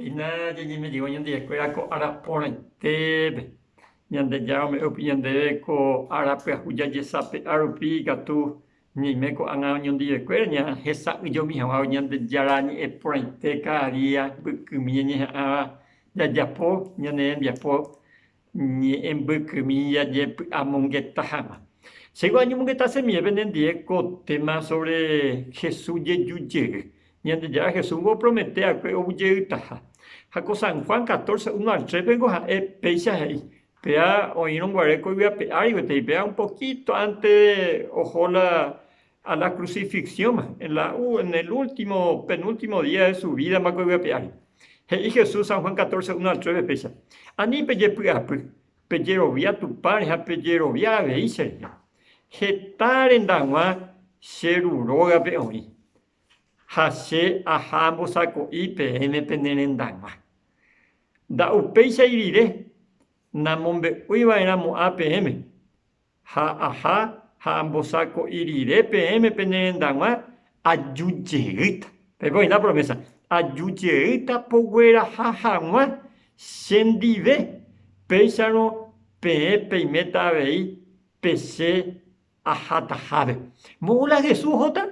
Hina jañeme'ẽva Ñandejára ko ára porãitépe, Ñandejára ome'ẽ rupi ñandéve ko ára pyahu jajesape'a rupi ikatu ñaime ko'ág̃a oñondive'ekuéra ñahesa'ỹjomi hag̃ua Ñandejára ñe'ẽ porãite káda día, mbykymi ñañeha'ãva jajapo ñane rembiapo Ñe'ẽmbykymi jajepy'amongeta hag̃ua. Chéguo añomongeta chemiépe nendie ko téma sóvre Jesús jeju jey. Ñandejára Jesúsngo opromete va'ekue ovujeýtaha. Ha ko San Juan catorce, uno al tres-péngo ha'e péicha he'i, Péva oĩrõ guare ko yvy ape ári gueteri, péva un poquíto ánte de oho la a la crucifixióma, en la u, en el último, penúltimo día de su vida mboyguepe ári. He'i Jesús, San Juan 14, uno al tres ve péicha, Ani pejepy'apy, pejerovia Tupãre ha pejerovia avei che rehe. Heta rendaguã che ru rógape oĩ, ha che aha ambosako'i peẽme pene rendaguã. Nda'upéichai rire, namombe'úi va'erãmo'ã peẽme, ha aha ha ambosako'i rire peẽme pene rendag̃ua, aju jeýta, peiko oĩta promésa, aju jeýta pogueraha hag̃ua che ndive, péicharõ peẽ peiméta avei pe che ahatahápe. Mo'ũ la Jesús ohóta?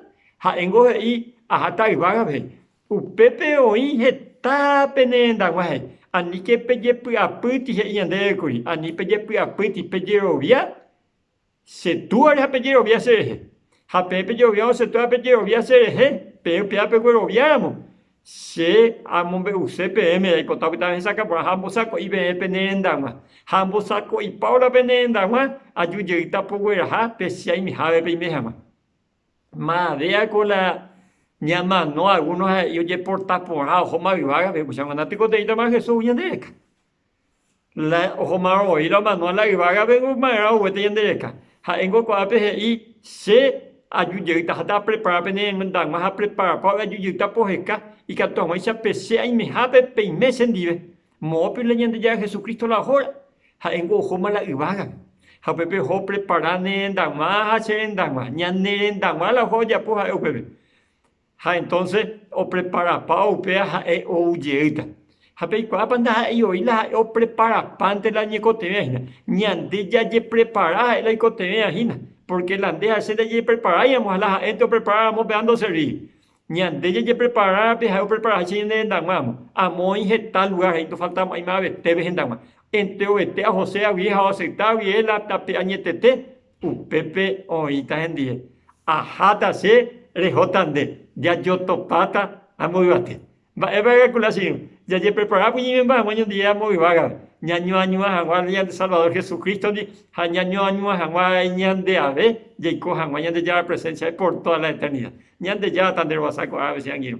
Ha'éngo he'i, Ahata yvágape, Upépe oĩ heta pene hendagua he'i, Aníke pejepy'apýti, he'i ñandéve kuri, ani pejepy'apýti, pejerovia che Túare ha pejerovia cherehe. Ha peẽ pejeroviárõ che Túa ha pejerovia cherehe, peẽ upéva pegueroviáramo, Che amombe'use peẽme jaipota opyta ohechakuaa porã ha ambosako'i peẽ pene rendag̃ua. Ha ambosako'ipávo la pene rendag̃ua, ajujeýta pogueraha pe che aime hápe peime hag̃ua. Madea con la ña mano alguno ha y oye porta porra ojo ma vivaga ve mucha manda pico te ita ma Jesús ya de acá la ojo ma oí la mano a la vivaga ve un mara o te yende acá ha engo con ape he i se a yu ye ita hasta prepara pe ne menda ma ha prepara pa ve yu ye ita po jeca y catu ma icha pe se a imeja pe pe imeche ndive. Moõpe la Ñandejára Jesucristo la hóra, ha'éngo ohóma la yvágape. Ha upépe oho oprepara ne rendag̃ua ha che rendag̃ua. Ñane rendag̃ua la oho ojapo ha'e upépe. Ha entonce opreparapa upéva ha'e ou jeýta. Ha peikuaápa ndaha'éi oĩ la ha'e opreparapánte la oñekotevẽva hína. Ñande jajeprepara ha'e la oikotevẽva hína. Porque la nde ha che ndajepreparáiramo ha la ha'énte opreparáramo péva ndoservíi. Ñande jajeprepara pe ha'e oprepara háicha ñane rendaguãramo. Amo oĩ heta lugár ha indofalta mo'ãi mavete pe hendaguã. Enterovete ahose avie ha oaseita avie la tape añetete, upépe oĩta hendive. Aháta che, rehóta nde, jajotopáta ha mboyvate. Mba'épa calcula che irũ? Jajepreparákuri ñimemba'aguã ñondive amo yvága, ñañoañua hag̃ua Ñande Salvador Jesucristo-ndi ha ñañoañua hag̃ua añandeave jaiko hag̃ua Ñandejára presénsiape por tóda la eternida. Ñandejára tanderovasa ko'ág̃a che angirũ.